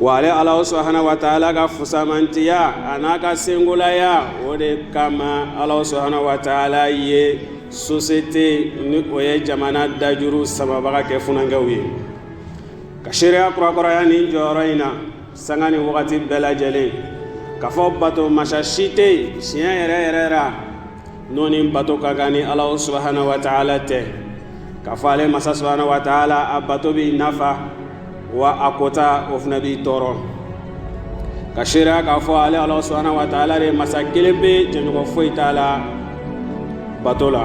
wa ale ala subahana wa taala ka fusamantiya a n'a ka senkolaya o de kama ala subahana wa taala ye sosiyete ni o ye jamana dajuru samabaga kɛ funankɛw ye ka seereya kurakuraya nin jɔyɔrɔ in na sanga ni wagati bɛɛ lajɛlen k'a fɔ bato masa si tɛ tiɲɛ yɛrɛ yɛrɛ n'o ni bato ka kan ni ala subahana wa taala tɛ k'a fɔ ale masa subahana wa taala a bato b'i nafa wa a kota o fana b'i tɔɔrɔ ka seereya k'a fɔ ale ala subahana wa taala de masa kelenpe jɛɲɔgɔn foyi t'a la bato la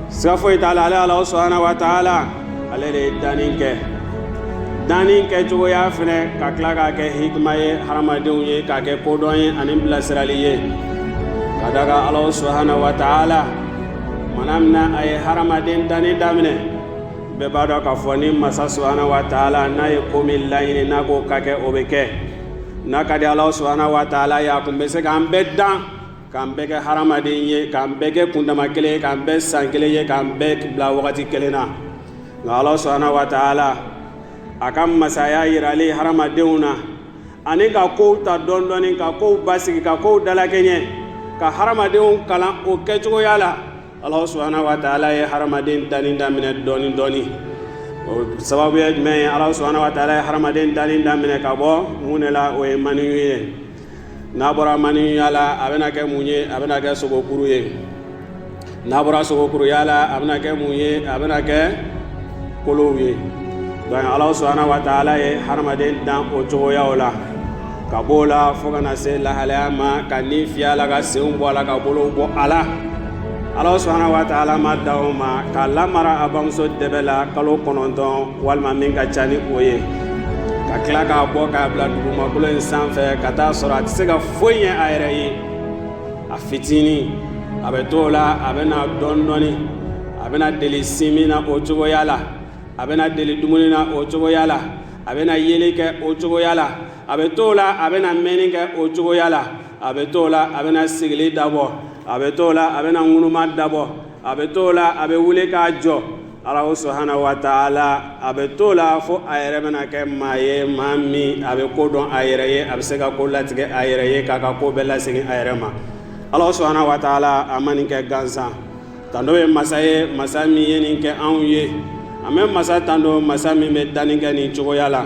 siga foyi t'a la ale ala subahana wa taala ale de ye danni kɛ danni kɛcogoya fana ka tila k'a kɛ hikima ye hadamadenw ye k'a kɛ kodɔn ye ani bilasirali ye ka d'a kan ala subahana wa taala mana min na a ye hadamaden danni daminɛ bɛɛ b'a dɔn k'a fɔ ni masa subahana wa taala n'a ye ko min laɲini n'a k'o ka kɛ o bɛ kɛ n'a ka di ala subahana wa taala ye a kun bɛ se k'an bɛɛ dan k'an bɛɛ kɛ hadamaden ye k'an bɛɛ kɛ kundama kelen ye k'an bɛɛ san kelen ye k'an bɛɛ bila wagati kelen na nka ala subahana wa taala a ka masaya yirali hadamadenw na ani ka kow ta dɔɔnin dɔɔnin ka kow basigi ka kow dalakɛɲɛ ka hadamadenw kalan o kɛcogoya la ala subahana wa taala ye hadamaden danni daminɛ dɔɔnin dɔɔnin o sababu ye jumɛn ye ala subahana wa taala ye hadamaden danni daminɛ ka bɔ mun de la o ye maniyu ye n'a bɔra maniyuya la a bɛna kɛ mun ye a bɛna kɛ sogokuru ye n'a bɔra sogokuruya la a bɛna kɛ mun ye a bɛna kɛ kolow ye donc ala subahana wa taala ye hadamaden dan o cogoyaw la ka b'o la fo ka na se lahalaya ma ka ni fiyɛ a la ka senw bɔ a la ka bolow bɔ a la ala subahana wa taala ma dan o ma k'a lamara a bamuso dɛbɛ la kalo kɔnɔntɔn walima min ka ca ni o ye ka tila k'a bɔ k'a bila dugumakolo in sanfɛ ka t'a sɔrɔ a tɛ se ka foyi ɲɛ a yɛrɛ ye a fitinin a bɛ to o la a bɛna dɔɔnin dɔɔnin a bɛna deli sinmin na o cogoya la a bɛna deli dumuni na o cogoya la a bɛna yeli kɛ o cogoya la a bɛ to o la a bɛna mɛnni kɛ o cogoya la a bɛ to la a bɛna sigili dabɔ a bɛ to la a bɛna ŋunuma dabɔ a bɛ to la a bɛ wuli k'a jɔ ala subahana wa taala a bɛ to la fo a yɛrɛ bɛna kɛ maa ye maa min a bɛ ko dɔn a yɛrɛ ye a bɛ se ka ko latigɛ a yɛrɛ ye k'a ka ko bɛɛ lasegin a yɛrɛ ma ala subahana wa taala a ma nin kɛ gansan tando bɛ masa ye masa min ye nin kɛ anw ye an bɛ masa tando masa min bɛ danni kɛ nin cogoya la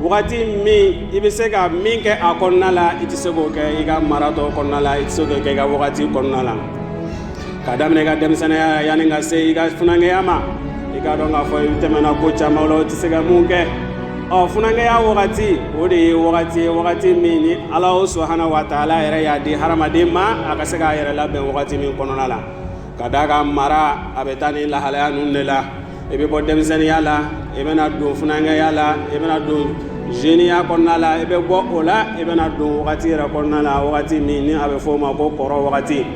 wagati min i bɛ se ka min kɛ a kɔnɔna la i tɛ se k'o kɛ i ka maratɔ kɔnɔna la i tɛ se k'o kɛ i ka wagati kɔnɔna la ka daminɛ i ka denmisɛnninya yanni ka se i ka funankɛya ma i k'a dɔn k'a fɔ i tɛmɛna ko caman la o tɛ se ka mun kɛ ɔ funankɛya wagati o de ye wagati ye wagati min ni alahu subahana wa taala yɛrɛ y'a di hadamaden ma a ka se k'a yɛrɛ labɛn wagati min kɔnɔna la ka d'a ka mara a bɛ taa ni lahalaya ninnu de la i bɛ bɔ denmisɛnninya la i bɛna don funankɛya la i bɛna don zeniya kɔnɔna la i bɛ bɔ o la i bɛna don wagati yɛrɛ kɔnɔna la wagati min ni a bɛ fɔ o ma ko kɔrɔ wagati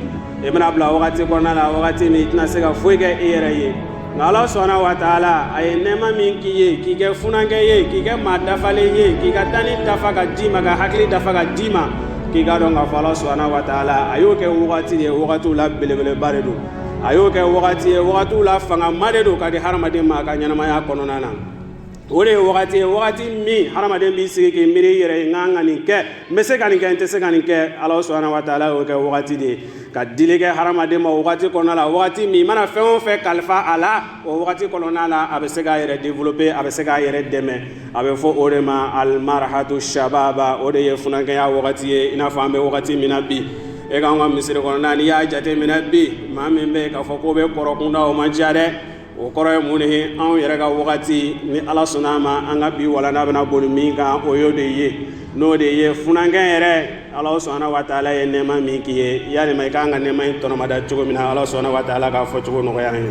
i bɛna bila wagati kɔnɔna la wagati min i tɛna se ka foyi kɛ i yɛrɛ ye nka ala subahana wa taala a ye nɛɛma min k'i ye k'i kɛ funankɛ ye k'i kɛ maa dafalen ye k'i ka danni dafa ka d'i ma ka hakili dafa ka d'i ma k'i k'a dɔn k'a fɔ ala subahana wa taala a y'o kɛ wagati de ye wagatiw la belebeleba de don a y'o kɛ wagati ye wagatiw la fangama de don ka di hadamaden ma a ka ɲɛnamaya kɔnɔna na o de ye wagati ye wagati min hadamaden b'i sigi k'i miiri i yɛrɛ ye n ka ka nin kɛ n bɛ se ka nin kɛ n tɛ se ka nin kɛ ala subahana wa taala y'o kɛ wagati de ye ka dili kɛ hadamaden ma wagati kɔnɔna la wagati min i mana fɛn o fɛn kalifa a la o wagati kɔnɔna la a bɛ se k'a yɛrɛ développer a bɛ se k'a yɛrɛ dɛmɛ a bɛ fɔ o de ma alimarahatu shababa o de ye funankɛya wagati ye i n'a fɔ an bɛ wagati min na bi e k'an ka misiri kɔnɔna n'i y'a jateminɛ bi maa min bɛ yen k'a fɔ k'o bɛ kɔrɔkunda o man ca dɛ o kɔrɔ ye mun de ye anw yɛrɛ ka wagati ni Ala sɔnn'a ma an ka bi walanda bɛna boli min kan o y'o de ye n'o de ye funankɛ yɛrɛ Ala subahana wataala ye nɛɛma min k'i ye yalima i ka kan ka nɛɛma in tɔnɔmada cogo min na Ala subahana wataala k'a fɔcogo nɔgɔya an ye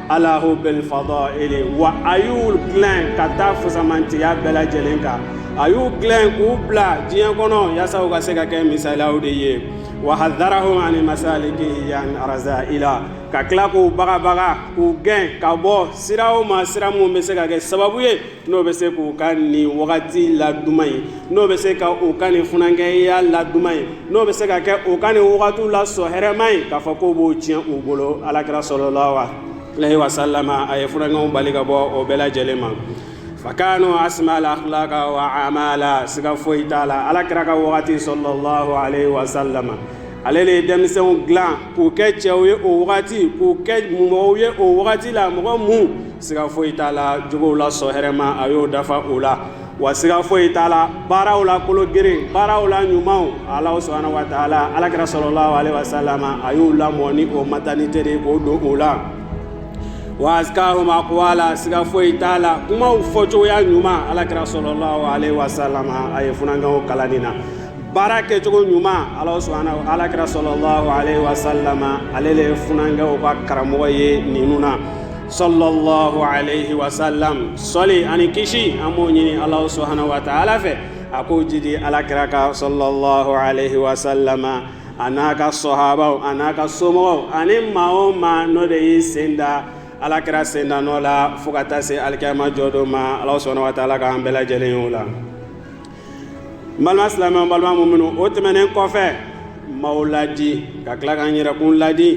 ala hubil fadaili wa a y'u dilan ka taa fisamantiya bɛɛ lajɛlen kan a y'u dilan k'u bila diɲɛ kɔnɔ yaasa u ka se ka kɛ misalaw de ye wa hadarahum ani masaliki yan arazaila ka tila k'u bagabaga k'u gɛn ka bɔ siraw ma sira minnu bɛ se ka kɛ sababu ye n'o bɛ se k'u ka nin wagati la duman ye n'o bɛ se ka u ka nin funankɛya la duman ye n'o bɛ se ka kɛ u ka nin wagatiw la sɔn hɛrɛma ye k'a fɔ k'o b'o tiɲɛ u bolo ala kira salalahu alehi wasalama a ye funankɛw bali ka bɔ o bɛɛ lajɛlen ma fakanu asimal akilaka wa amala siga foyi t'a la ala kira ka waati salalahu alehi wasalama ale de ye denmisɛnw dilan k'u kɛ cɛw ye o wagati k'u kɛ mɔgɔw ye o wagati la mɔgɔ minnu siga foyi t'a la jogow la sɔn hɛrɛma a y'o dafa o la wa siga foyi t'a la baaraw la kologirin baaraw la ɲumanw ala subahana wa taala ala kira salalahu alehi wasalama a y'u lamɔ ni o mata ni teri k'o don o la wa azikahum akuwala siga foyi t'a la kumaw fɔcogoya ɲuman ala kira salalahu alehi wasalama a ye funankɛw kalan nin na baara kɛcogo ɲuman ala kira salalahu alayhi wa salama ale de ye funankɛw ka karamɔgɔ ye ninnu na salalahu alayhi wa salam sɔli ani kisi an b'o ɲini ala subahanahu wa taala fɛ a k'o jidi ala kira kan salalahu alayhi wa salama a n'a ka sahabaw a n'a ka somɔgɔw ani maa o maa n'o de y'i sen da ala kira sen da nɔ la fo ka taa se alikiyama jɔ don ma ala subahanahu wa taala k'an bɛɛ lajɛlen ye o la n balima silamɛw n balima muminw o tɛmɛnen kɔfɛ n b'aw ladi ka tila ka n yɛrɛkun ladi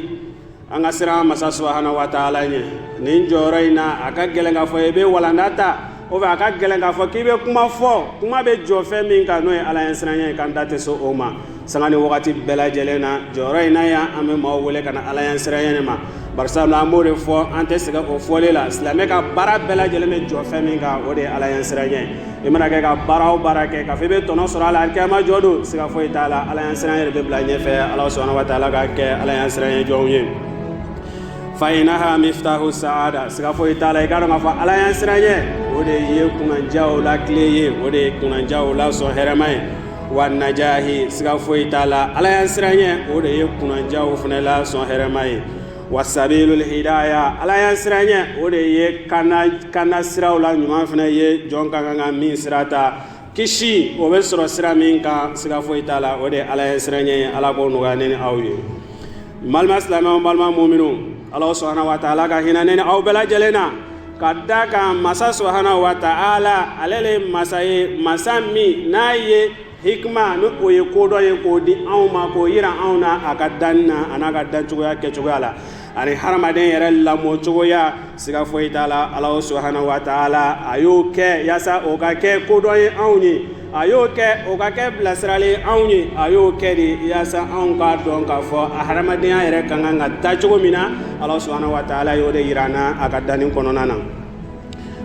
an ka siran masa subahana wa taala ɲɛ nin jɔyɔrɔ in na a ka gɛlɛn k'a fɔ i bɛ walanda ta o fɛ a ka gɛlɛn k'a fɔ k'i bɛ kuma fɔ kuma bɛ jɔ fɛn min kan n'o ye ala ɲɛsiranɲɛ ye k'an da tɛ se o ma sanga ni wagati bɛɛ lajɛlen na jɔyɔrɔ in na yan an bɛ maaw wele ka na ala ɲɛsiranɲɛ ma barisa an b'o de fɔ an tɛ sɛgɛn o fɔli la silamɛ ka baara bɛɛ lajɛlen bɛ jɔ fɛn min kan o de ye ala ɲɛsiranɲɛ i mana kɛ ka baara o baara kɛ k'a fɔ i bɛ tɔnɔ sɔrɔ a la alikiyama jɔ don siga foyi t'a la ala ɲɛsiranɲɛ de bɛ bila ɲɛfɛ ala subahanahu wa taala k'an kɛ ala ɲɛsiranɲɛ jɔnw ye fayinaha miftahu saada siga foyi t'a la i k'a dɔn k'a fɔ ala ɲɛsiranɲɛ o de ye kunnajaw la kile ye o de ye kunnajaw la sɔn hɛrɛma ye wa najahi siga foyi t'a la ala ɲɛsiranɲɛ o de ye kunnajaw fana la sɔn hɛrɛma ye wa sabilul hidaya ala ɲɛsiranɲɛ o de ye kanda siraw la ɲuman fana ye jɔn ka kan ka min sira ta kisi o bɛ sɔrɔ sira min kan siga foyi t'a la o de ye ala ɲɛsiranɲɛ ye ala k'o nɔgɔya ne ni aw ye n balima silamɛw n balima muminw ala subahanahu wa taala ka hinɛ ne ni aw bɛɛ lajɛlen na ka da kan masa subahanahu wa taala ale de masa ye masa min n'a ye hikima ni o ye kodɔn ye k'o di anw ma k'o yira anw na a ka danni na a n'a ka dancogoya kɛcogoya la ani hadamaden yɛrɛ lamɔcogoya siga foyi t'a la ala subahanahu wa taala a y'o kɛ yaasa o ka kɛ kodɔn ye anw ye a y'o kɛ o ka kɛ bilasirali anw ye a y'o kɛ de yaasa anw k'a dɔn k'a fɔ a hadamadenya yɛrɛ ka kan ka taa cogo min na ala subahanahu wa taala y'o de yira an na a ka danni kɔnɔna na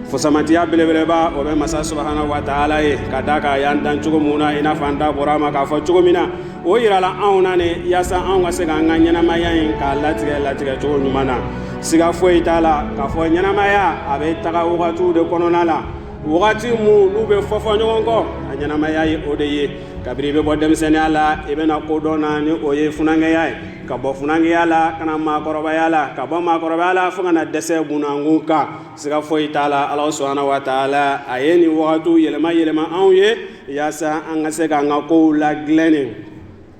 fusamantiya belebeleba o bɛ masa subahanahu wa taala ye ka da kan a y'an dan cogo min na i n'a fɔ an da bɔra a ma k'a fɔ cogo min na o yirala anw na de yaasa anw ka se k'an ka ɲɛnamaya in k'a latigɛ latigɛ cogo ɲuman na siga foyi t'a la k'a fɔ ɲɛnamaya a bɛ taga wagatiw de kɔnɔna la wagati minnu bɛ fɔfɔ ɲɔgɔn kɔ a ɲɛnamaya ye o de ye kabiri i bɛ bɔ denmisɛnniya la i bɛ na kodɔn na ni o ye funankɛya ye ka bɔ funankɛya la ka na maakɔrɔbaya la ka bɔ maakɔrɔbaya la fo ka na dɛsɛ bunakun kan siga foyi t'a la ala subahanahu wa taala a ye nin wagatiw yɛlɛma yɛlɛma anw ye yaasa an ka se k'an ka kow ladilannen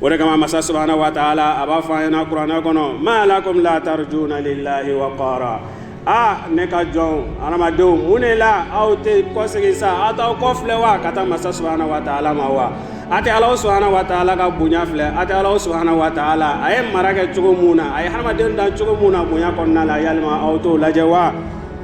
o de kama masa subahana wa taala a b'a fɔ an ɲɛna kuranɛ kɔnɔ ma lakum la tarjuna lillahi wakara aa ne ka jɔn adamadenw mun ne la aw tɛ kɔsegin sa aw t'aw kɔ filɛ wa ka taa masa subahana wa taala ma wa a tɛ ala subahana wa taala ka bonya filɛ a tɛ ala subahana wa taala a ye mara kɛ cogo min na a ye hadamaden dan cogo min na bonya kɔnɔna la yalima aw t'o lajɛ wa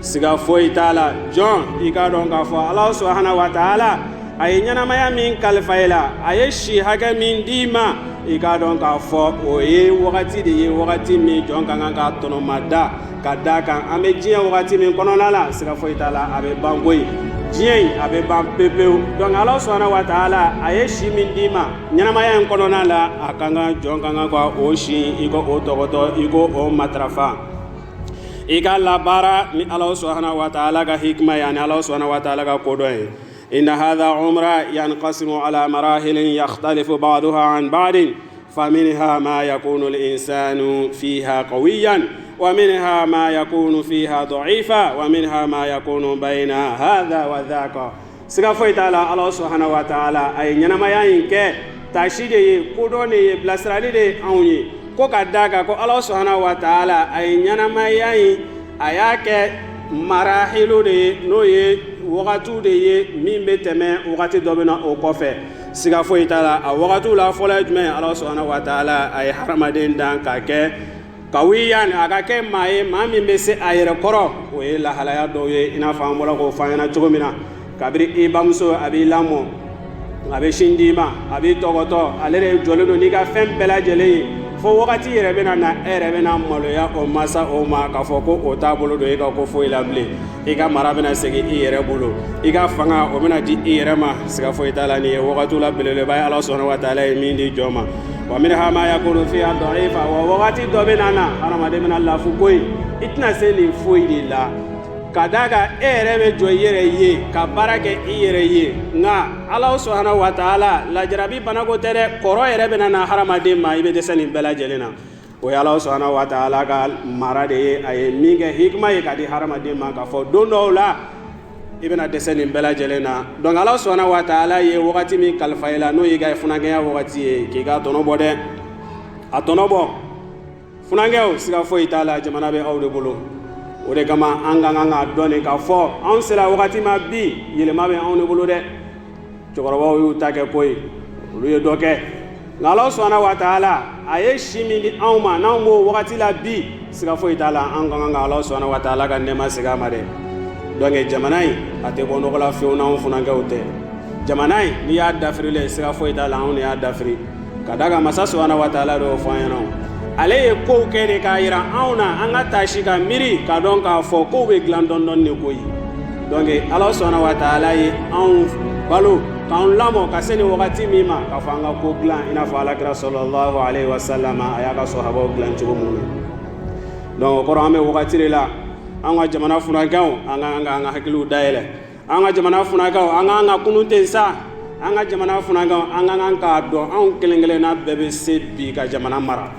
siga foyi t'a la jɔn i k'a dɔn k'a fɔ ala subahana wa taala a ye ɲɛnamaya min kalifa i la a ye si hakɛ min d'i ma i k'a dɔn k'a fɔ o ye wagati de ye wagati min jɔn ka kan k'a tɔnɔmada ka d'a kan an bɛ diɲɛ wagati min kɔnɔna la siga foyi t'a la a bɛ ban koyi diɲɛ in a bɛ ban pepewu donc ala subahana wa taala a ye si min d'i ma ɲɛnamaya in kɔnɔna la a ka kan jɔn ka kan ka o si i k'o tɔgɔtɔ i k'o matarafa i ka labaara ni ala sɔnna waa ala ka hkima yan ni ala sɔnna waa ala ka kodɔn ye i na hada oba yan kasi ala mara helen yali fo bamadɔ h baden fa hama ya ko n sa fi ha ko yan wa hama ya ko fi hadɔ i fa wa hama ya ko ba in na hada wa kɔ siga foyi t'a la ala subahana wa taala a ye ɲɛnamaya in kɛ taasi de ye kodɔn de ye bilasirali de ye anw ye ko ka d'a kan ko ala subahana wa taala a ye ɲɛnamaya in a y'a kɛ marahilu de ye n'o ye wagatiw de ye min bɛ tɛmɛ wagati dɔ bɛ na o kɔfɛ siga foyi t'a la a wagatiw la fɔlɔ ye jumɛn ye ala subahana wa taala a ye hadamaden dan ka kɛ kawiyan a k'a kɛ maa ye maa min bɛ se a yɛrɛ kɔrɔ o ye lahalaya dɔw ye i n'a fɔ an bɔra k'o fɔ aw ɲɛna cogo min na kabiri i bamuso a b'i lamɔ a bɛ sin d'i ma a b'i tɔgɔtɔ ale de jɔlen don n'i ka fɛn bɛɛ lajɛlen ye fo wagati yɛrɛ bɛna na e yɛrɛ bɛna maloya o masa o ma k'a fɔ ko o t'a bolo don i ka ko foyi la bilen i ka mara bɛna segin i yɛrɛ bolo i ka fanga o bɛna di i yɛrɛ ma siga foyi t'a la nin ye wagatiw la belebeleba ye ala subahana wa taala ye min di jɔn ma wa minha ma yakunu fiha da'ifa wa wagati dɔ bɛna na hadamaden bɛna lafu koyi i tɛna se nin foyi de la ka d'a kan e yɛrɛ bɛ jɔ i yɛrɛ ye ka baara kɛ i yɛrɛ ye nka ala subahana wa taala la jarabi banako tɛ dɛ kɔrɔ yɛrɛ bɛna na hadamaden ma i bɛ dɛsɛ nin bɛɛ lajɛlen na O ye Alahu subahana wataala ka mara de ye a ye min kɛ hikima ye k'a di hadamaden ma k'a fɔ don dɔw la i bɛna dɛsɛ nin bɛɛ lajɛlen na donc Alahu subahana wataala ye wagati min kalifa i la n'o y'i ka funankɛya wagati ye k'i k'a tɔnɔ bɔ dɛ a tɔnɔ bɔ funankɛw siga foyi t'a la jamana bɛ aw de bolo o de kama an ka kan k'a dɔn de k'a fɔ anw sera wagati ma bi yɛlɛma bɛ anw de bolo dɛ cɛkɔrɔbaw y'u ta kɛ ko ye olu ye dɔ kɛ nka ala subahana wa taala a ye si min di anw ma n'anw b'o wagati la bi siga foyi t'a la an ka kan ka ala subahana wa taala ka nɛɛma segin a ma dɛ donc jamana in a tɛ bɔ nɔgɔ la fewu n'anw funankɛw tɛ jamana in n'i y'a dafirilen siga foyi t'a la anw de y'a dafiri ka d'a kan masa subahana wa taala de y'o fɔ an ɲɛna ale ye kow kɛ de k'a yira anw na an ka taasi ka miiri k'a dɔn k'a fɔ kow bɛ dilan dɔɔni dɔɔni de ko ye donc ala subahana wa taala ye anw balo k'an lamɔ ka se nin wagati min ma k'a fɔ an ka ko dilan i n'a fɔ alakira sallallahu alayhi wa sallam a y'a ka sahabaw dilan cogo min na donc o kɔrɔ an bɛ wagati de la an ka jamana funankɛw an ka an ka an ka hakiliw dayɛlɛ an ka jamana funankɛw an k'an ka kunun ten sa an ka jamana funankɛw an ka kan k'a dɔn anw kelen kelenna bɛɛ bɛ se bi ka jamana mara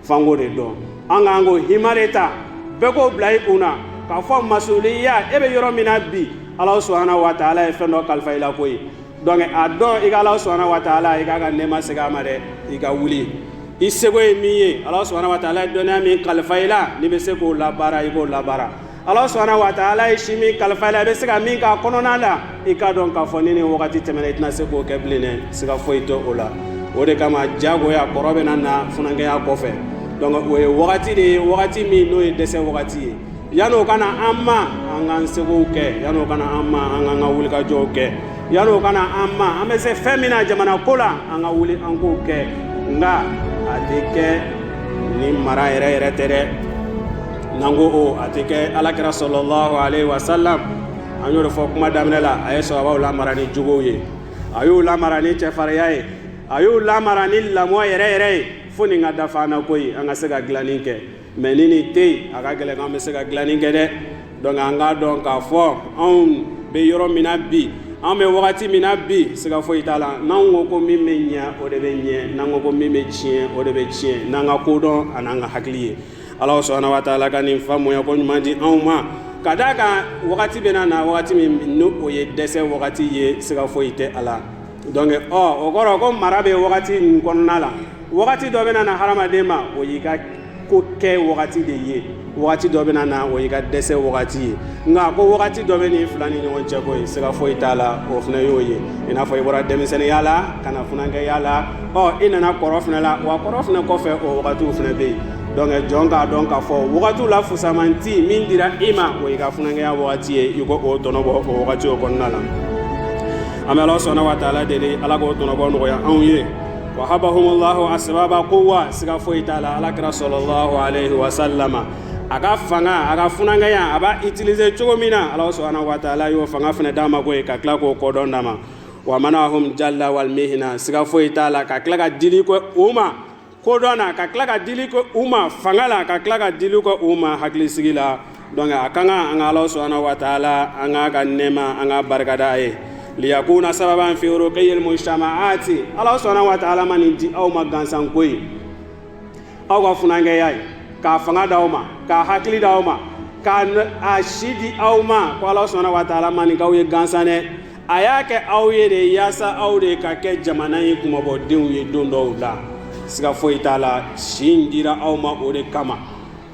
f'an k'o de dɔn an k'an ko hima de ta bɛɛ k'o bila i kun na k'a fɔ masuliya e bɛ yɔrɔ min na bi ala subahana wa taala ye fɛn dɔ kalifa i la ko ye donc a dɔn i ka ala subahana wa taala i k'a ka nɛɛma segin a ma dɛ i ka wuli i seko ye min ye ala subahana wa taala ye dɔnniya min kalifa i la n'i bɛ se k'o labaara i k'o labaara ala subahana wa taala ye si min kalifa i la i bɛ se ka min k'a kɔnɔna la i k'a dɔn k'a fɔ ni nin wagati tɛmɛna i tɛna se k'o kɛ bilen dɛ siga foyi tɛ o la o de kama jagoya kɔrɔ bɛna na funankɛya kɔfɛ donc o ye wagati de ye wagati min n'o ye dɛsɛ wagati ye yan'o ka na an ma an k'an sekow kɛ yan'o ka na an ma an k'an ka wulikajɔw kɛ yan'o ka na an ma an bɛ se fɛn min na jamana ko la an ka wuli an k'o kɛ nka a tɛ kɛ ni mara yɛrɛ yɛrɛ tɛ dɛ N'an ko o a tɛ kɛ alakira sallallahu alayhi wa sallam an y'o de fɔ kuma daminɛ la a ye sahabaw lamara ni jogow ye a y'u lamara ni cɛfarinya ye a y'u lamara ni lamɔ yɛrɛ yɛrɛ ye fo nin ka dafa an na ko ye an ka se ka dilanni kɛ mais ni nin tɛ yen a ka gɛlɛn k'an bɛ se ka dilanni kɛ dɛ donc an k'a dɔn k'a fɔ anw bɛ yɔrɔ min na bi an bɛ wagati min na bi siga foyi t'a la n'an ko ko min bɛ ɲɛ o de bɛ ɲɛ n'an ko ko min bɛ tiɲɛ o de bɛ tiɲɛ n'an ka kodɔn ani'an ka hakili ye ala subahana wa taala ka nin faamuya ko ɲuman di anw ma ka d'a kan wagati bɛna na wagati min n'o o ye dɛsɛ wagati ye siga foyi tɛ a la donc ɔ o kɔrɔ ko mara bɛ wagati nin kɔnɔna la wagati dɔ bɛna na hadamaden ma o y'i ka ko kɛ wagati de ye wagati dɔ bɛna na o y'i ka dɛsɛ wagati ye nka ko wagati dɔ bɛ nin fila ni ɲɔgɔn cɛ ko ye siga foyi t'a la o fana y'o ye i n'a fɔ i bɔra denmisɛnninya la ka na funankɛya la ɔ i nana kɔrɔ fana la wa kɔrɔ fana kɔfɛ o wagatiw fana bɛ yen donc jɔn k'a dɔn k'a fɔ wagatiw la fusamanti min dira i ma o y'i ka funankɛya wagati ye i k'o tɔnɔbɔ o wagati o kɔnɔna la an bɛ ala subhanahu wa taala deli ala k'o tɔnɔbɔ nɔgɔya anw ye wahabahumullahu asbaba quwwa siga foyi t'a la ala kira sallallahu alaihi wa sallama a ka fanga a ka funankɛya a b'a utiliser cogo min na ala subhanahu wa taala y'o fanga fana d'a ma koyi ka tila k'o kodɔn d'a ma wa manahum jalla wal mihna siga foyi t'a la ka tila ka dili kɛ u ma kodɔn na ka tila ka dili kɛ u ma fanga la ka tila ka dili kɛ u ma hakilisigi la donc a ka kan an ka ala subhanahu wa taala an k'a ka nɛɛma an k'a barikada a ye liyakuna sababan fi ruqiyil mujtamaati ala subhanahu wa taala ma nin di aw ma gansan koyi aw ka funankɛya in k'a fanga d'aw ma k'a hakili d'aw ma k'a si di aw ma ko ala subhanahu wa taala ma nin k'aw ye gansan dɛ a y'a kɛ aw ye de yaasa aw de ka kɛ jamana in kunmabɔdenw ye don dɔw la siga foyi t'a la si in dira aw ma o de kama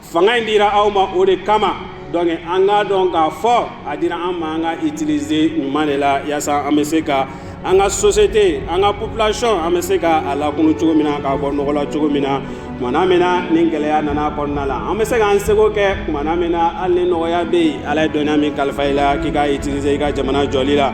fanga in dira aw ma o de kama donc an k'a dɔn k'a fɔ a dira an ma an k'a utiliser ɲuman de la yaasa an bɛ se ka an ka société an ka population an bɛ se ka a lakunu cogo min na k'a bɔ nɔgɔ la cogo min na kumana min na ni gɛlɛya nana kɔnɔna la an bɛ se k'an seko kɛ kumana min na hali ni nɔgɔya bɛ yen ala ye dɔnniya min kalifa i la k'i k'a utiliser i ka jamana jɔli la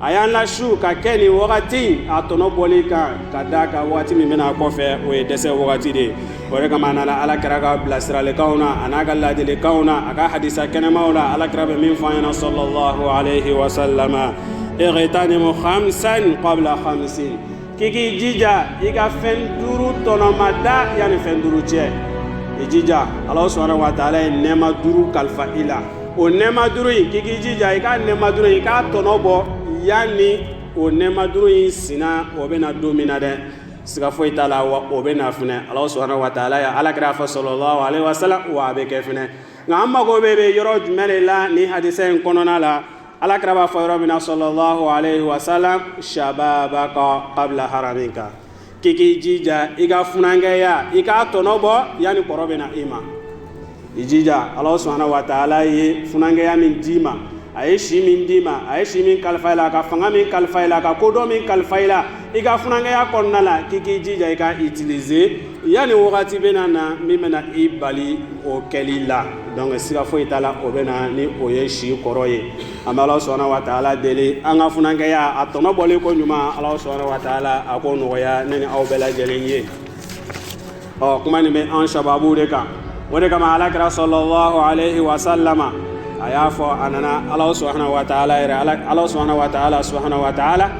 a y'an lasu ka kɛ nin wagati a tɔnɔ bɔli kan ka d'a kan wagati min bɛna a kɔfɛ o ye dɛsɛ wagati de ye o de kama a nana ala kira ka bilasiralikanw na a n'a ka laadilikanw na a ka hadisa kɛnɛmaw la ala kira bɛ min f'an ɲɛna sallallahu alaihi wa sallam ightanimu khamsan qabla khamsin k'i k'i jija i ka fɛn duuru tɔnɔmada yanni fɛn duuru cɛ i jija ala subhanahu wa taala ye nɛɛma duuru kalifa i la o nɛɛma duuru in k'i k'i jija i ka nɛɛma duuru in i k'a tɔnɔ bɔ yanni o nɛɛma duuru in sina o bɛ na don min na dɛ siga foyi t'a la wa o bɛ na fɛnɛ ala subhanahu wa taala y'a ala kira a fɔ sallallahu alaihi wa sallam wa a bɛ kɛ fɛnɛ nka an mago bɛ bɛ yɔrɔ jumɛn de la nin hadisa in kɔnɔna la alakira b'a fɔ yɔrɔ min na sallallahu alaihi wa sallam shababaka qabla haramika k'i k'i jija i ka funankɛya i k'a tɔnɔ bɔ yanni kɔrɔ bɛ na i ma i jija ala subhanahu wa taala ye funankɛya min d'i ma a ye si min d'i ma a ye si min kalifa i la ka fanga min kalifa i la ka kodɔn min kalifa i la i ka funankɛya kɔnɔna la k'i k'i jija i k'a utiliser Yanni wagati bɛna na min bɛna i bali o kɛli la donc siga foyi t'a la o bɛ na ni o ye si kɔrɔ ye an bɛ ala subhanahu wa taala deli an ka funankɛya a tɔnɔ bɔli koɲuman ala subhanahu wa taala a k'o nɔgɔya ne ni aw bɛɛ lajɛlen ye ɔ kuma nin bɛ an shababu de kan o de kama ala kira sallallahu alaihi wa sallama a y'a fɔ a nana ala subhanahu wa taala yɛrɛ ala subhanahu wa taala subhanahu wa taala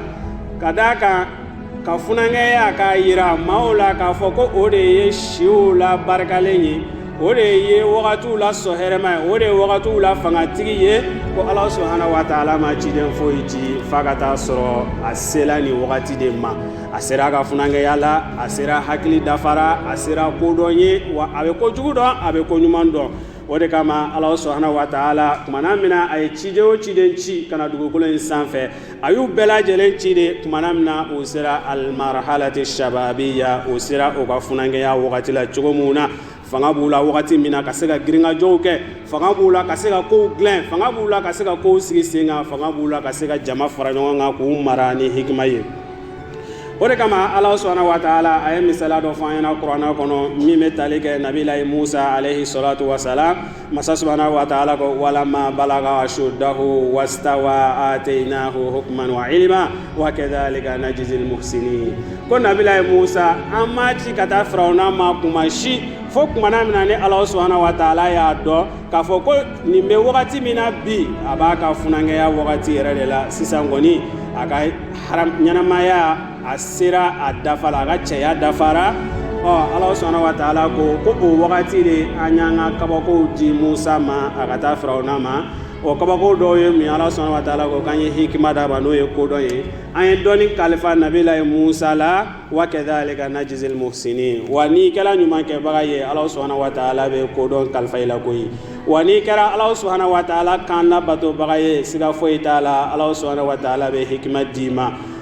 ka d'a kan ka funankɛya k'a yira maaw la k'a fɔ ko o de ye siw la barikalen ye o de ye wagatiw la sɔ hɛrɛma ye o de ye wagatiw la fangatigi ye ko ala subhanahu wa taala ma ciden foyi ci fa ka taa sɔrɔ a sela nin wagati de ma a sera a ka funankɛya la a sera hakili dafara a sera kodɔn ye wa a bɛ ko jugu dɔn a bɛ ko ɲuman dɔn o de kama ala subhanahu wa taala kumana min na a ye ciden o ciden ci ka na dugukolo in sanfɛ a y'u bɛɛ lajɛlen ci de kumana min na u sera almarhalati shababiya u sera o ka funankɛya wagati la cogo min na fanga b'u la wagati min na ka se ka girinkajɔw kɛ fanga b'u la ka se ka kow dilan fanga b'u la ka se ka kow sigi sen kan fanga b'u la ka se ka jama fara ɲɔgɔn kan k'u mara ni hikima ye o de kama ala subhanahu wa taala a ye misala dɔ fɔ an ɲɛna kuranɛ kɔnɔ min bɛ tali kɛ nabilayi musa alayhi salatu wasalam masa subhanahu wa taala ko walamma balaga ashuddahu wastawa atainahu hukman wa ilma wa kadhalika najzil muhsinin ko nabilayi musa an m'a ci ka taa firawuna ma kuma si fo kumana min na ni ala subhanahu wa taala y'a dɔn k'a fɔ ko nin bɛ wagati min na bi a b'a ka funankɛya wagati yɛrɛ de la sisan kɔni a ka ɲɛnamaya a sera a dafa la a ka cɛya dafara ɔ ala subhanahu wa taala ko ko o wagati de an y'an ka kabakow di musa ma a ka taa firawuna ma o kabako dɔw ye mun ala subhanahu wa taala ko k'an ye hikima d'a ma n'o ye kodɔn ye an ye dɔnni kalifa nabilayi musa la wa kadhalika najzil muhsinin wa n'i kɛra ɲumankɛbaga ye ala subhanahu wa taala bɛ kodɔn kalifa i la koyi wa n'i kɛra ala subhanahu wa taala kan labatobaga ye siga foyi t'a la ala subhanahu wa taala bɛ hikima d'i ma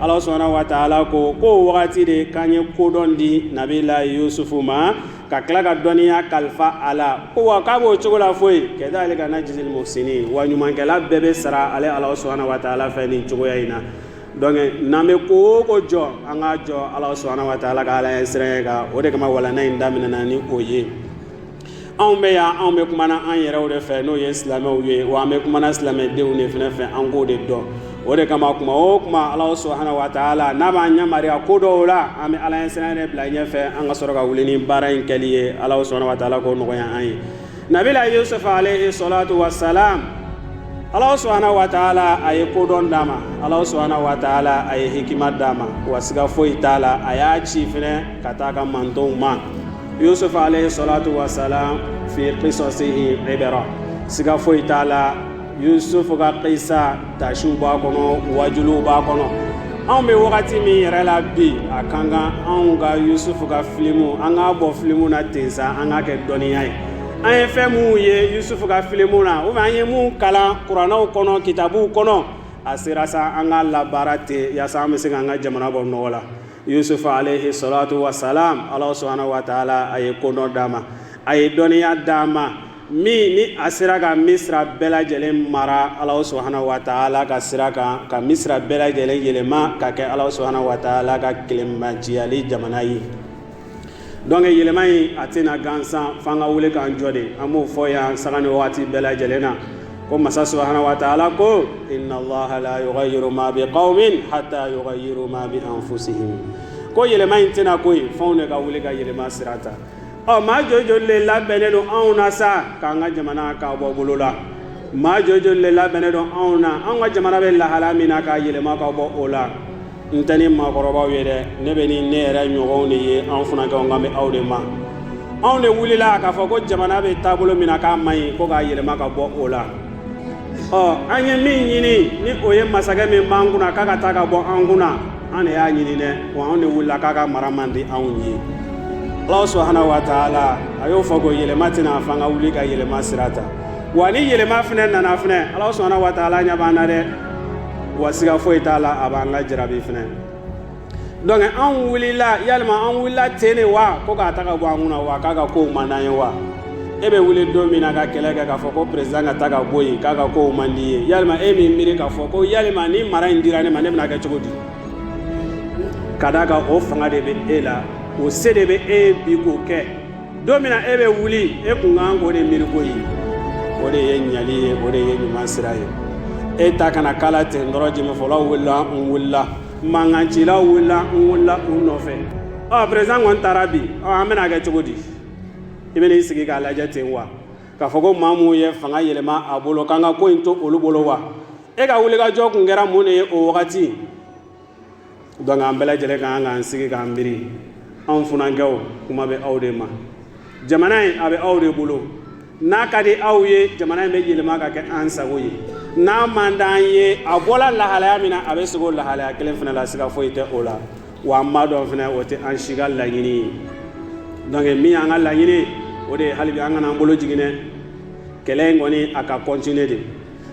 ala subhanahu wa taala ko k'o wagati de k'an ye kodɔn di nabila yusufu ma ka tila ka dɔnniya kalifa a la ko wa k'a b'o cogo la foyi kadhalika najzil muhsinin wa ɲumankɛla bɛɛ bɛ sara ale ala subhanahu wa taala fɛ nin cogoya in na donc n'an bɛ ko o ko jɔ an k'a jɔ ala subhanahu wa taala ka ala ɲɛsiranɲɛ kan o de kama walanda in daminɛna ni o ye anw bɛ yan anw bɛ kumana an yɛrɛw de fɛ n'o ye silamɛw ye wa an bɛ kumana silamɛdenw de fana fɛ an k'o de dɔn o de kama kuma o kuma ala subhanahu wa taala n'a b'an yamariya ko dɔw la an bɛ ala ɲɛsiranɲɛ de bila ɲɛfɛ an ka sɔrɔ ka wuli ni baara in kɛli ye ala subhanahu wa taala k'o nɔgɔya an ye nabila yusufu alayhi salatu wasalam ala subhanahu wa taala a ye kodɔn d'a ma ala subhanahu wa taala a ye hikima d'a ma wa siga foyi t'a la a y'a ci fana ka taa a ka mantɔnw ma yusuf alayhi salatu wa salam fi qisasihi ibra siga foyi t'a la yusuf ka qisa taasiw b'a kɔnɔ waajuliw b'a kɔnɔ anw bɛ wagati min yɛrɛ la bi a ka kan anw ka yusuf ka filimu an k'a bɔ filimu na ten sa an k'a kɛ dɔnniya ye an ye fɛn minnu ye yusuf ka filimu na ou bien an ye min kalan kuranɛw kɔnɔ kitabuw kɔnɔ a sera sa an k'a labaara ten yaasa an bɛ se k'an ka jamana bɔ nɔgɔ la yusuf alayhi salatu wa salam ala subhanahu wa taala a ye kodɔn d'a ma a ye dɔnniya d'a ma min ni a sera ka misira bɛɛ lajɛlen mara ala subhanahu wa taala ka sira kan ka misira bɛɛ lajɛlen yɛlɛma ka kɛ ala subhanahu wa taala ka kelenmatigiyali jamana ye donc yɛlɛma in a tɛ na gansan f'an ka wuli k'an jɔ de an b'o fɔ yan sanga ni waati bɛɛ lajɛlen na ko masa subhanahu wa taala ko inna allaha la yugayiru ma bi qawmin hatta yugayiru ma bi anfusihim ko yɛlɛma in tɛ na koyi f'anw de ka wuli ka yɛlɛma sira ta ɔ maa joli joli le labɛnnen don anw na sa k'an ka jamana k'a bɔ bolo la maa joli joli le labɛnnen don anw na anw ka jamana bɛ lahala min na k'a yɛlɛma ka bɔ o la n tɛ ni maakɔrɔbaw ye dɛ ne bɛ ni ne yɛrɛ ɲɔgɔnw de ye an funankɛw kan bɛ aw de ma anw de wulila k'a fɔ ko jamana bɛ taabolo min na k'a man ɲi ko k'a yɛlɛma ka bɔ o la ɔ an ye min ɲini ni o ye masakɛ min b'an kunna k'a ka taa ka bɔ an kunna an de y'a ɲini dɛ wa anw de wulila k'a ka mara man di anw ye ala subhanahu wa taala a y'o fɔ ko yɛlɛma tɛ na f'an ka wuli ka yɛlɛma sira ta wa ni yɛlɛma fana nana fana ala subhanahu wa taala ɲɛ b'an na dɛ wa siga foyi t'a la a b'an ka jarabi fana donc an wulila yalima an wulila ten de wa ko k'a ta ka bɔ an kunna wa k'a ka kow man d'an ye wa e bɛ wuli don min na ka kɛlɛ kɛ k'a fɔ ko président ka taa ka bɔ yen k'a ka kow man d'i ye yalima e m'i miiri k'a fɔ ko yalima ni mara in dira ne ma ne bɛna kɛ cogo di ka d'a kan o fanga de bɛ e la o se de bɛ e ye bi k'o kɛ don min na e bɛ wuli e kun kan k'o de miiri koyi o de ye ɲali ye o de ye ɲuman sira ye e ta kana k'a la ten dɔrɔn jɛmɛfɔlaw wulila n wulila mankancilaw wulila n wulila u nɔfɛ ɔ président kɔni taara bi ɔ an bɛn'a kɛ cogo di i bɛna i sigi k'a lajɛ ten wa k'a fɔ ko maa minnu ye fanga yɛlɛma a bolo k'an ka ko in to olu bolo wa e ka wulikajɔ kun kɛra mun de ye o wagati donc an bɛɛ lajɛlen ka kan k'an sigi k'an miiri anw funankɛw kuma bɛ aw de ma jamana in a bɛ aw de bolo n'a ka di aw ye jamana in bɛ yɛlɛma ka kɛ an sago ye n'a man d'an ye a bɔla lahalaya min na a bɛ sigi o lahalaya kelen fana la siga foyi tɛ o la wa an b'a dɔn fana o tɛ an si ka laɲini ye donc min y'an ka laɲini o de ye hali bi an kana an bolo jigin dɛ kɛlɛ in kɔni a ka continuer de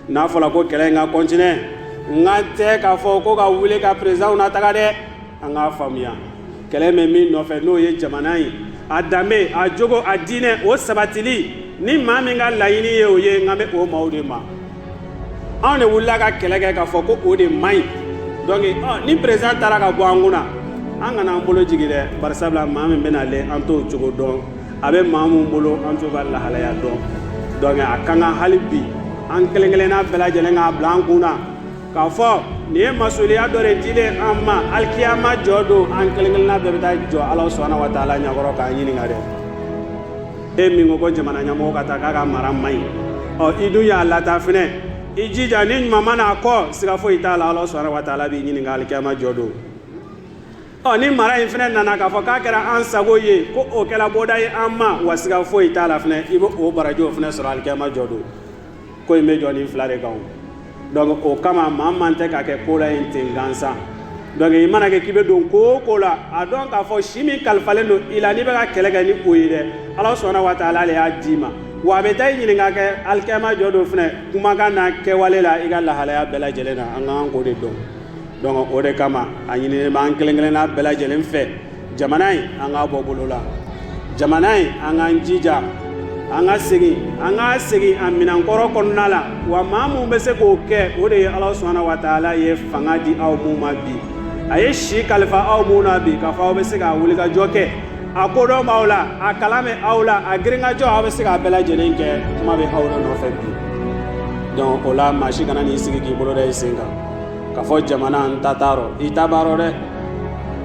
n'a fɔra ko kɛlɛ in ka kɔntine n kan tɛ k'a fɔ ko ka wuli ka perezidanw nataga dɛ an k'a faamuya kɛlɛ bɛ min nɔfɛ n'o ye jamana ye a danbe a jogo a diinɛ o sabatili ni maa min ka laɲini ye o ye n kan bɛ o maaw de ma anw de wulila ka kɛlɛ kɛ k'a fɔ ko o de man ɲi donc ni perezidan taara ka bɔ an kun na an kana an bolo jigin dɛ barisabula maa min bɛna ale an t'o cogo dɔn a bɛ maa minnu bolo an t'u ka lahalaya dɔn donc a ka kan hali bi an kelen kelenna bɛɛ lajɛlen k'a bila an kun na k'a fɔ nin ye masuliya dɔ de dilen an ma alikiyama jɔ don an kelen kelenna bɛɛ bɛ taa jɔ ala subahana wa taala ɲɛkɔrɔ k'an ɲininka dɛ e min ko ko jamana ɲɛmɔgɔ ka taa k'a ka mara man ɲi ɔ i dun y'a lataa fɛnɛ i jija ni ɲuman ma na a kɔ siga foyi t'a la ala subahana wa taala b'i ɲininka alikiyama jɔ don ɔ ni mara in fɛnɛ nana k'a fɔ k'a kɛra an sago ye ko o kɛra bɔda ye an ma wa siga foyi t'a la fɛnɛ i bɛ o barajiw fɛnɛ sɔrɔ alikiyama jɔ don ko in bɛ jɔ nin fila de kan donc o kama maa man tɛ ka kɛ ko la in ten gansan donc i mana kɛ k'i bɛ don ko o ko la a dɔn k'a fɔ si min kalifalen don i la n'i bɛ ka kɛlɛ kɛ ni o ye dɛ ala subahana wa taala de y'a d'i ma wa a bɛ taa i ɲininka kɛ alikiyama jɔ don fɛnɛ kumakan n'a kɛwale la i ka lahalaya bɛɛ lajɛlen na an ka kan k'o de dɔn donc o de kama a ɲininen bɛ an kelen kelenna bɛɛ lajɛlen fɛ jamana in an k'a bɔ bolo la jamana in an k'an jija an ka segin an k'a segin a minɛnkɔrɔ kɔnɔna la wa maa minnu bɛ se k'o kɛ o de ye ala subahana wa taala ye fanga di aw minnu ma bi a ye si kalifa aw minnu na bi k'a fɔ aw bɛ se k'a wulikajɔ kɛ a kodɔn b'aw la a kalan bɛ aw la a girinkajɔ aw bɛ se k'a bɛɛ lajɛlen kɛ kuma bɛ aw de nɔfɛ bi donc o la maa si kana n'i sigi k'i bolo da i sen kan k'a fɔ jamana n ta t'a rɔ i ta b'a rɔ dɛ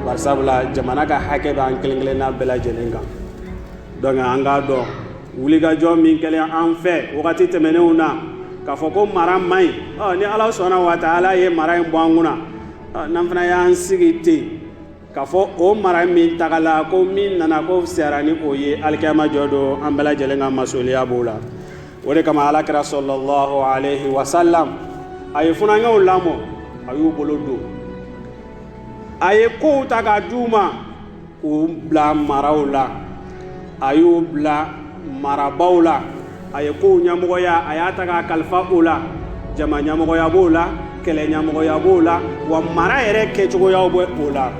barisabula jamana ka hakɛ bɛ an kelen kelenna bɛɛ lajɛlen kan donc an k'a dɔn wulikajɔ min kɛlen an fɛ wagati tɛmɛnenw na k'a fɔ ko mara man ɲi ɔ ni ala subahana wa taala ye mara in bɔ an kunna n'an fana y'an sigi ten k'a fɔ o mara min tagala ko min nana k'o fisayara ni o ye alikiyama jɔ don an bɛɛ lajɛlen ka masuliya b'o la o de kama alakira salalahu alayhi wasalam a ye funankɛw lamɔ a y'u bolo don a ye kow ta ka di u ma k'u bila maraw la a y'u bila marabaw la a ye kow ɲamɔgɔya a y'a ta k'a kalifa o la jama ɲamɔgɔya b'o la kɛlɛ ɲamɔgɔya b'o la wa mara yɛrɛ kɛcogoyaw bɛ o la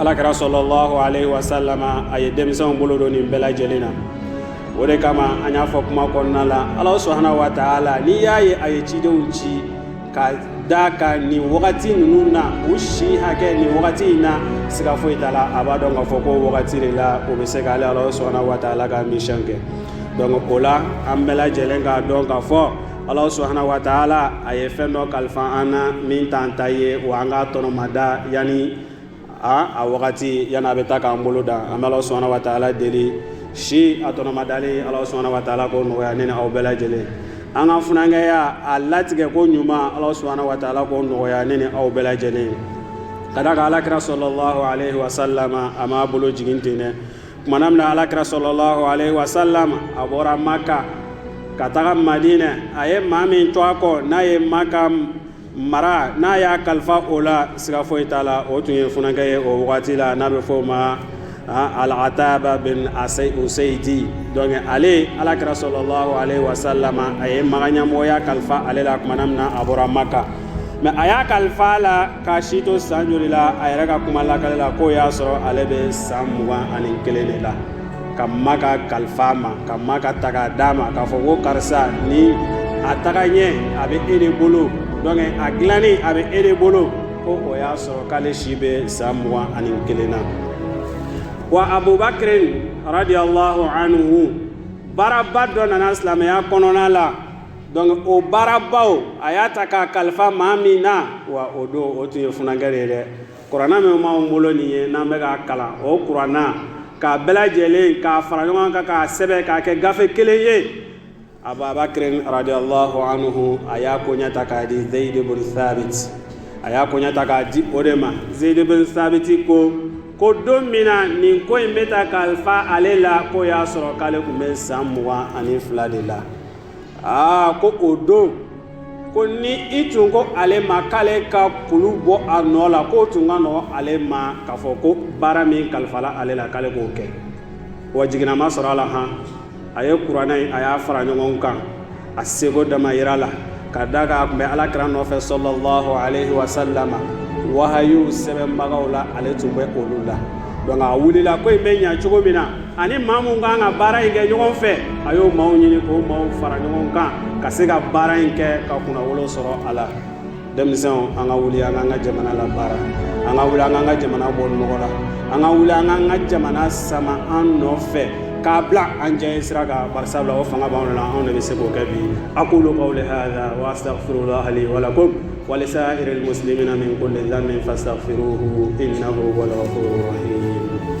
alakira salalahu alayhi wa salama a ye denmisɛnw bolo don nin bɛɛ lajɛlen na o de kama an y'a fɔ kuma kɔnɔna la ala subahana wa taala n'i y'a ye a ye cidenw ci ka da ka nin wagati ninnu na u si hakɛ nin wagati in na siga foyi t'a la a b'a dɔn k'a fɔ k'o wagati de la o bɛ se k'ale ala subhanahu wa ta'ala ka mission kɛ donc o la an bɛɛ lajɛlen k'a dɔn k'a fɔ ala subhanahu wa ta'ala a ye fɛn dɔ kalifa an na min t'an ta ye wa an k'a tɔnɔmada yanni a wagati yanni a bɛ taa k'an bolo dan an bɛ ala subhanahu wa ta'ala deli si a tɔnɔmadali ala subhanahu wa ta'ala k'o nɔgɔya ne ni aw bɛɛ lajɛlen an ka funankɛya a latigɛ koɲuman ala subhanahu wa ta'ala k'o nɔgɔya ne ni aw bɛɛ lajɛlen ka da a kan alakira sallallahu aleyhi wasallam a m'a bolo jigin ten dɛ kumana min na alakira sallallahu aleyhi wasallam a bɔra maka ka taga madina a ye maa min to a kɔ n'a ye maka mara n'a y'a kalifa o la siga foyi t'a la o tun ye funankɛ ye o wagati la n'a bɛ fɔ o ma alataba bin useyidi donc ale alakira sallallahu aleyhi wasallam a ye maka ɲɛmɔgɔya kalifa ale la kumana min na a bɔra maka mais a y'a kalifa a la k'a si to san joli la a yɛrɛ ka kuma lakali la k'o y'a sɔrɔ ale bɛ san mugan ani kelen de la ka maka kalifa a ma ka maka ta k'a d'a ma k'a fɔ ko karisa ni a taga ɲɛ a bɛ e de bolo donc a dilanni a bɛ e de bolo ko o y'a sɔrɔ k'ale si bɛ san mugan ani kelen na wa abubakirin radiyallahu anhu baaraba dɔ nana silamɛya kɔnɔna la donc o baarabaw a y'a ta k'a kalifa maa min na wa o don o tun ye funankɛ de ye dɛ kuranna min b'anw bolo nin ye n'an bɛ k'a kalan o kuranna k'a bɛɛ lajɛlen k'a fara ɲɔgɔn kan k'a sɛbɛn k'a kɛ gafe kelen ye ababakrin radiyallahu anhu a y'a koɲɛ ta k'a di zeyid bin sabit a y'a koɲɛ ta k'a di o de ma zeyid bin sabit ko ko don min na nin ko in bɛ ta kalifa ale la k'o y'a sɔrɔ k'ale tun bɛ san mugan ani fila de la aa ko o don ko ni i tun ko ale ma k'ale ka kulu bɔ a nɔ la k'o tun ka nɔgɔ ale ma k'a fɔ ko baara min kalifala ale la k'ale k'o kɛ wa jiginnama sɔrɔ a la han a ye kuranɛ in a y'a fara ɲɔgɔn kan a seko damayira la ka da kan a tun bɛ alakira nɔfɛ sallallahu aleyhi wasallam wahayiw sɛbɛnbagaw la ale tun bɛ olu la donc a wulila ko in bɛ ɲa cogo min na ani maa min kan ka baara in kɛ ɲɔgɔn fɛ a y'o maaw ɲini k'o maaw fara ɲɔgɔn kan ka se ka baara in kɛ ka kunnawolo sɔrɔ a la denmisɛnw an ka wuli an k'an ka jamana labaara an ka wuli an k'an ka jamana bɔ nɔgɔ la an ka wuli an k'an ka jamana sama an nɔfɛ k'a bila an jɛ sira kan bari sabula o fanga b'anw la anw de bɛ se k'o kɛ bi aqulu qawli hadha wa astaghfirullah li wa lakum wa li sa'iril muslimina min kulli dhanbin fastaghfiruhu innahu huwal ghafurur rahim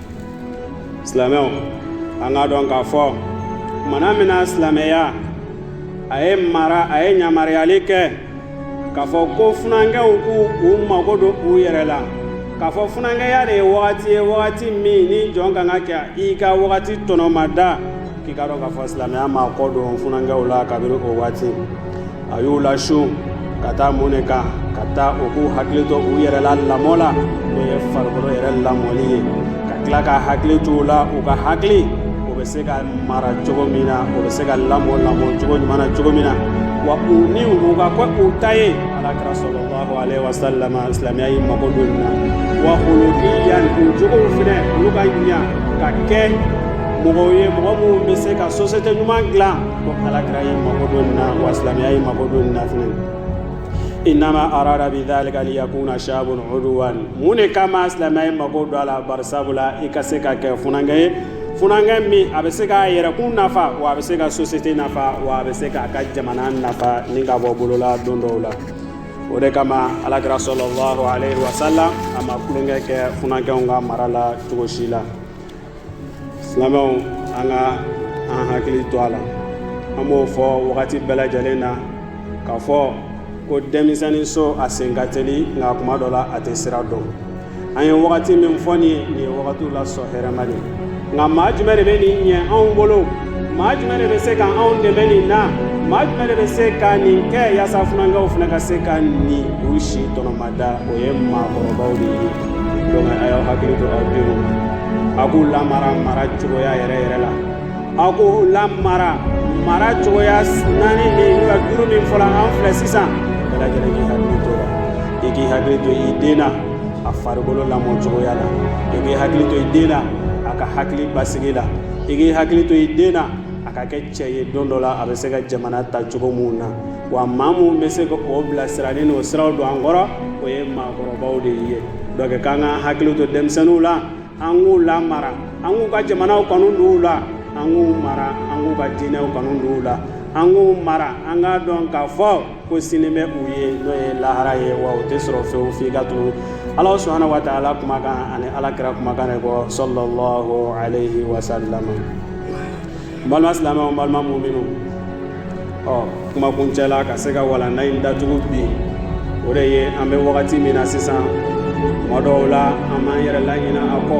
silamɛw an k'a dɔn k'a fɔ mana min na silamɛya a ye mara a ye yamaruyali kɛ k'a fɔ ko funankɛw k'u u mago don u yɛrɛ la k'a fɔ funankɛya de ye wagati ye wagati min ni jɔn kan ka kɛ i ka wagati tɔnɔmada k'i k'a dɔn k'a fɔ silamɛya mago don funankɛw la kabini o waati a y'u lasu ka taa mun de kan ka taa u k'u hakili to u yɛrɛ la lamɔ la n'o ye farikolo yɛrɛ lamɔli ye ka tila ka hakili to u la u ka hakili o bɛ se ka mara cogo min na o bɛ se ka lamɔ lamɔ cogo ɲuman na cogo min na wa u niw u ka kɛ u ta ye ala kira sɔlɔlahu alayhi wa sallam silamɛya y'i mago don nin na wa khuluqiyan u jogow fɛnɛ olu ka ɲa ka kɛ mɔgɔw ye mɔgɔ minnu bɛ se ka sosiyete ɲuman dilan ko alakira y'i mago don nin na wa silamɛya y'i mago don nin na fɛnɛ innama arada bi dhalika liyakuna shabun uduwan mun de kama silamɛya y'i mago don a la bari sabula i ka se ka kɛ funankɛ ye funankɛ min a bɛ se k'a yɛrɛkun nafa wa a bɛ se ka sosiyete nafa wa a bɛ se k'a ka jamana nafa ni ka bɔ bolola don dɔw la o de kama alakira sɔlɔlɔhu aleyhi wasalam a ma tulonkɛ kɛ funankɛw ka mara la cogo si la silamɛw an ka an hakili to a la an b'o fɔ wagati bɛɛ lajɛlen na k'a fɔ ko denmisɛnnin so a sen ka teli nka kuma dɔ la a tɛ sira dɔn an ye wagati min fɔ nin nin ye wagatiw la sɔn hɛrɛma de nka maa jumɛn de bɛ nin ɲɛ anw bolo maa jumɛn de bɛ se ka anw dɛmɛ nin na maa jumɛn de bɛ se ka nin kɛ yaasa funankɛw fana ka se ka nin u si tɔnɔmada o ye maakɔrɔbaw de ye donc a y'aw hakili to aw denw na a k'u lamara mara cogoya yɛrɛ yɛrɛ la aw k'u lamara mara cogoya naani min n'u ka duuru min fɔla an filɛ sisan bɛɛ lajɛlen k'i hakili to la i k'i hakili to i den na a farikolo lamɔ cogoya la i k'i hakili to i den na a ka hakili basigi la i k'i hakili to i den na a ka kɛ cɛ ye don dɔ la a bɛ se ka jamana ta cogo minnu na wa maa minnu bɛ se ka o bilasira ni o siraw don an kɔrɔ o ye maakɔrɔbaw de ye donc k'an ka hakili to denmisɛnninw la an k'u lamara an k'u ka jamanaw kanu don u la an k'u mara an k'u ka diinɛw kanu don u la an k'u mara an k'a dɔn k'a fɔ ko sini bɛ u ye n'o ye lahara ye wa o tɛ sɔrɔ fewu f'i ka tugu ala subhanahu wa taala kumakan ani ala kira kumakan ne kɔ sɔlɔlahu aleyhi wasalam balima silamɛw balima muminuw kuma kuncɛla ka se ka walanda in datugu bi o de ye an bɛ wagati min na sisan tuma dɔw la an b'an yɛrɛ laɲina a kɔ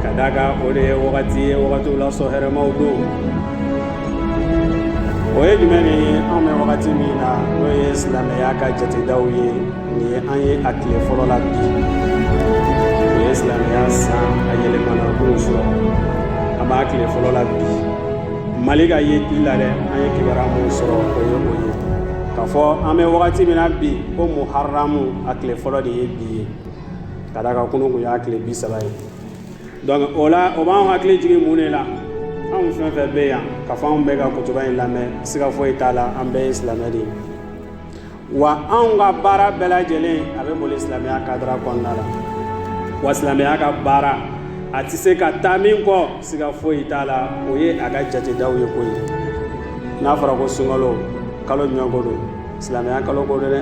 ka d'a kan o de ye wagati ye wagatiw la sɔn hɛrɛmaw don o ye jumɛn ni anw bɛ wagati min na n'o ye silamɛya ka jatedaw ye ni an ye a tile fɔlɔ la bi o ye silamɛya san a yɛlɛmana k'o sɔrɔ an b'a tile fɔlɔ la bi mali ka yeli la dɛ an ye kibaruya minnu sɔrɔ o ye o ye k'a fɔ an bɛ wagati min na bi ko muharamu a tile fɔlɔ de ye bi ye ka d'a kan kunu kun y'a tile bi saba ye donc o la o b'an hakili jigin mun de la anw fɛn fɛn bɛ yan k'a fɔ anw bɛ ka kutuba in lamɛn siga foyi t'a la an bɛɛ ye silamɛ de ye wa anw ka baara bɛɛ lajɛlen a bɛ boli silamɛya kadara kɔnɔna la wa silamɛya ka baara a tɛ se ka taa min kɔ siga foyi t'a la o ye a ka jatedaw ye koyi n'a fɔra ko sunkalo kalo jumɛn ko don silamɛya kalo ko don dɛ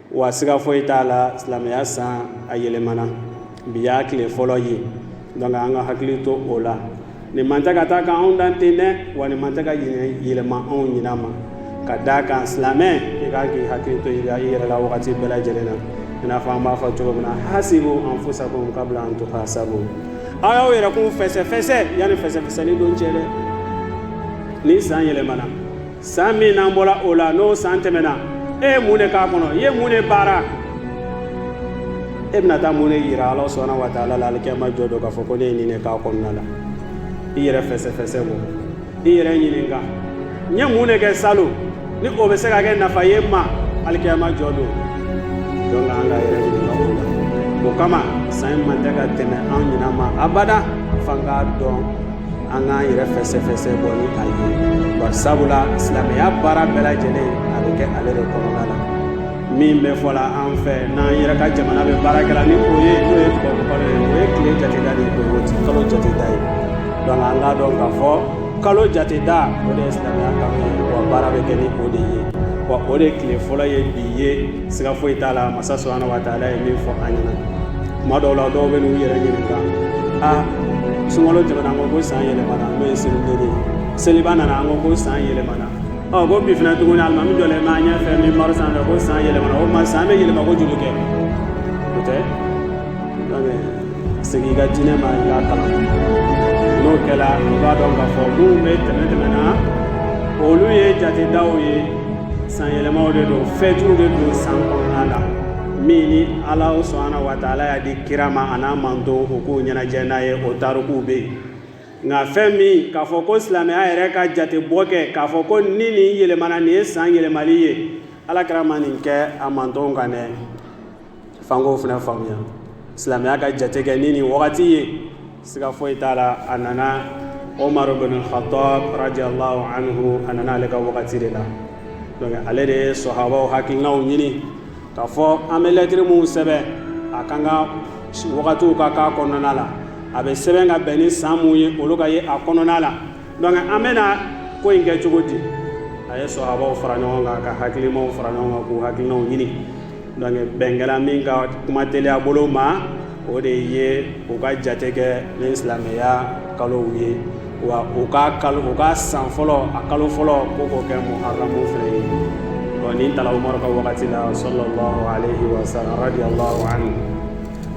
wa siga foyi t'a la silamɛya san a yɛlɛmana bi y'a tile fɔlɔ ye donc an ka hakili to o la nin man tɛ ka taa ka anw dan ten dɛ wa nin man tɛ ka yɛlɛma anw ɲinan ma ka d'a kan silamɛ i kan k'i hakili to i yɛrɛ la wagati bɛɛ lajɛlen na i n'a fɔ an b'a fɔ cogo min na hasibu anfusakum kabla an tuhasabu aw y'aw yɛrɛkun fɛsɛfɛsɛ yanni fɛsɛfɛsɛni don cɛ dɛ ni san yɛlɛmana san min n'an bɔra o la n'o san tɛmɛna e ye mun de k'a kɔnɔ i ye mun de baara e bɛna taa mun de yira ala subahana wa taala la alikiyama jɔ don k'a fɔ ko ne ye nin de k'a kɔnɔna la i yɛrɛ fɛsɛfɛsɛ bɔ i yɛrɛ ɲininka n ye mun de kɛ salon ni o bɛ se ka kɛ nafa ye n ma alikiyama jɔ don donc an k'an yɛrɛ ɲininka o la o kama san in man tɛ ka tɛmɛ an ɲinan ma abada f'an k'a dɔn an k'an yɛrɛ fɛsɛfɛsɛ bɔ ni a ye bari sabula silamɛya baara bɛɛ lajɛlen a bɛ kɛ ale de kɔnɔna la min bɛ fɔ la an fɛ n'an yɛrɛ ka jamana bɛ baara kɛ la ni o ye n'o ye tubabukalo ye o ye tile jateda de ye o ti kalo jateda ye donc an k'a dɔn k'a fɔ kalo jateda o de ye silamɛya kalo ye wa baara bɛ kɛ ni o de ye wa o de tile fɔlɔ ye bi ye siga foyi t'a la masa subahana wa taala ye min fɔ an ɲɛna tuma dɔw la dɔw bɛ n'u yɛrɛ ɲininka a sunkalo tɛmɛna an ko ko san yɛlɛmana n'o ye seliden ye seliba nana an ko ko san yɛlɛmana ɔ ko bi fana tuguni alimami jɔlen b'an ɲɛfɛ minbari sanfɛ ko san yɛlɛmana o ma san bɛ yɛlɛma ko joli kɛ o tɛ segin i ka diinɛ ma i k'a kalan n'o kɛra i b'a dɔn k'a fɔ minnu bɛ tɛmɛ tɛmɛna olu ye jatedaw ye san yɛlɛmaw de don fɛtiw de don san kɔnɔna la min ni ala subahana wa taala y'a di kira ma a n'a manton u k'u ɲɛnajɛ n'a ye o tarikuw bɛ yen nka fɛn min k'a fɔ ko silamɛya yɛrɛ ka jate bɔ kɛ k'a fɔ ko ni nin yɛlɛmana nin ye san yɛlɛmali ye ala kira ma nin kɛ a mantonw kan dɛ f'an k'o fana faamuya silamɛya ka jate kɛ ni nin wagati ye siga foyi t'a la a nana omar bin khattab radiyallahu anhu a nana ale ka wagati de la donc ale de ye sahabaw hakilinaw ɲini k'a fɔ an bɛ lɛtiri minnu sɛbɛn a kan ka wagatiw ka k'a kɔnɔna la a bɛ sɛbɛn ka bɛn ni san min ye olu ka ye a kɔnɔna la donc an bɛna ko in kɛ cogo di a ye sahabaw fara ɲɔgɔn kan ka hakilimaw fara ɲɔgɔn kan k'u hakilinaw ɲini donc bɛn kɛla min kan kuma teliya bolo ma o de ye u ka jate kɛ ni silamɛya kalow ye wa u ka kalo u ka san fɔlɔ a kalo fɔlɔ ko k'o kɛ muharamu fɛnɛ ye ɔ nin tala umaru ka wagati la sallallahu alaihi wasallam radiyallahu anhu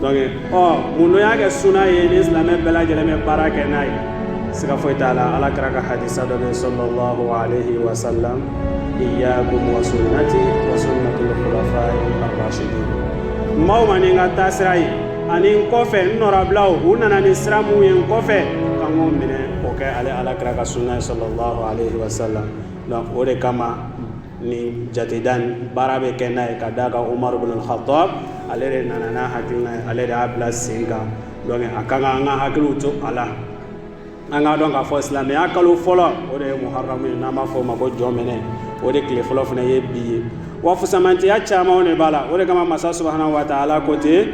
donc ɔ mun n'o y'a kɛ suna ye ni silamɛ bɛɛ lajɛlen bɛ baara kɛ n'a ye siga foyi t'a la ala kira ka hadisa dɔ bɛ sallallahu alaihi wa sallam iyyakum wa sunnati wa sunnatul khulafai ar-rashidin n m'aw ma ni n ka taasira ye ani n kɔfɛ n nɔrabilaw u nana ni sira mun ye n kɔfɛ k'an k'o minɛ o kɛ ale ala kira ka sunna ye sallallahu alaihi wa sallam donc o de kama ni jateda baara bɛ kɛ n'a ye ka d'a kan omar bin khattab ale de nana n'a hakilina ye ale de y'a bila sen kan donc a kan an ka hakiliw to a la an k'a dɔn k'a fɔ silamɛya kalo fɔlɔ o de ye muharamu ye n'an b'a fɔ o ma ko jɔnminɛ o de tile fɔlɔ fana ye bi ye wa fusamantiya camanw de b'a la o de kama masa subhanahu wa taala ko ten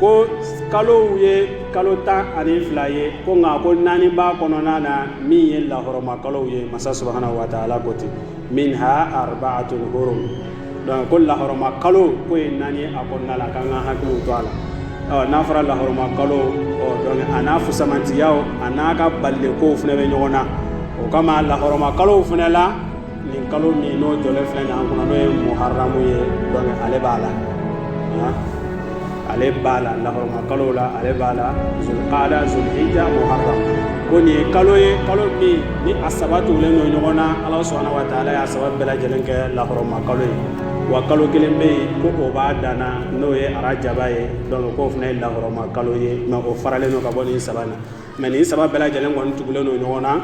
ko kalow ye kalo tan ani fila ye ko nka ko naani b'a kɔnɔna na min ye lahɔrɔma kalow ye masa subhanahu wa taala ko ten minha arbaatun hurum donc ko lahɔrɔma kalo k'o ye naani a kɔnɔna la k'an ka hakili to a la n'a fɔra lahɔrɔma kalo donc a n'a fusamantiyaw a n'a ka balikow fana bɛ ɲɔgɔn na o kama lahɔrɔma kalow fana la nin kalo min n'o jɔlen filɛ nin an kunna n'o ye muharamu ye donc ale b'a la ale b'a la lahɔrɔma kalo la ale b'a la zulqaada zulhijja muharram ko nin ye kalo ye kalo min ni a saba tugulen don ɲɔgɔn na Ala subhanahu wa taala y'a saba bɛɛ lajɛlen kɛ lahɔrɔma kalo ye wa kalo kelen bɛ yen ko o b'a danna n'o ye arajaba ye donc k'o fana ye lahɔrɔma kalo ye mais o faralen don ka bɔ nin saba in na mais nin saba bɛɛ lajɛlen kɔni tugulen don ɲɔgɔn na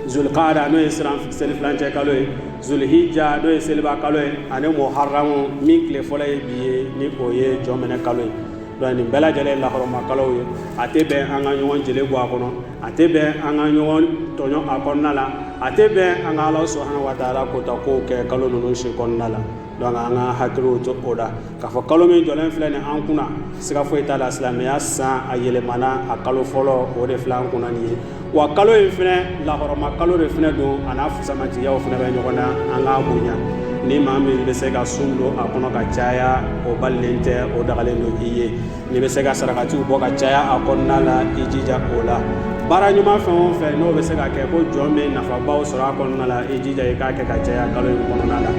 zulukada n'o ye selifilancɛ kalo ye zulhija n'o ye seliba kalo ye ani muharamu min tile fɔlɔ ye bi ye ni o ye jɔnminɛ kalo ye donc nin bɛɛ lajɛlen ye lahɔrɔma kalow ye a tɛ bɛn an ka ɲɔgɔn jeli bɔ a kɔnɔ a tɛ bɛn an ka ɲɔgɔn tɔɲɔ a kɔnɔna la a tɛ bɛn an ka ala subhanahu wa taala kota kow kɛ kalo ninnu si kɔnɔna la Donc an ka hakili to o la k'a fɔ kalo min jɔlen filɛ nin an kunna siga foyi t'a la silamɛya san a yɛlɛmana a kalo fɔlɔ o de filɛ an kunna nin ye wa kalo in fana lahɔrɔma kalo de fana don a n'a fusamantiyaw fana bɛ ɲɔgɔn na an k'a bonya ni maa min bɛ se ka sun don a kɔnɔ ka caya o balilen tɛ o dagalen don i ye n'i bɛ se ka sarakatiw bɔ ka caya a kɔnɔna la i jija o la baara ɲuman fɛn o fɛn n'o bɛ se ka kɛ ko jɔn bɛ nafabaw sɔrɔ a kɔnɔna la i jija i k'a kɛ ka caya kalo in kɔnɔna la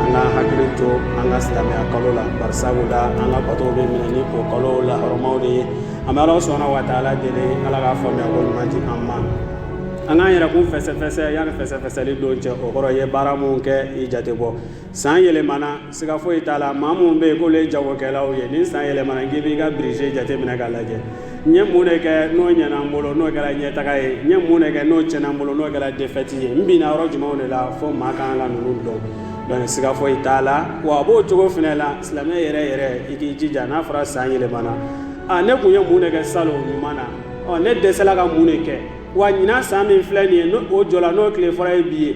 an ka hakili to an ka silamɛya kalo la bari sabula an ka batow bɛ minɛ ni o kalo lahɔrɔmaw de ye an bɛ ala subhanahu wa taala deli ala ka faamuyako ɲuman di an ma an k'an yɛrɛkun fɛsɛfɛsɛ yanni fɛsɛfɛsɛli don cɛ o kɔrɔ i ye baara mun kɛ i jate bɔ san yɛlɛmana siga foyi t'a la maa minnu bɛ yen k'olu ye jagokɛlaw ye ni san yɛlɛmana k'i b'i ka birije jateminɛ k'a lajɛ n ye mun de kɛ n'o ɲɛna n bolo n'o kɛra ɲɛtaga ye n ye mun de kɛ n'o tiɲɛna n bolo n'o kɛra defɛti ye n binna yɔrɔ jumɛnw de la fo maa kan ka ninnu dɔn dɔnku siga foyi t'a la wa a b'o cogo fana la silamɛ yɛrɛ yɛrɛ i k'i jija n'a fɔra san yɛlɛmana aa ne tun ye mun de kɛ salon ɲuman na ɔ ne dɛsɛla ka mun de kɛ wa ɲinan san min filɛ nin ye n'o jɔla n'o tile fɔlɔ ye bi ye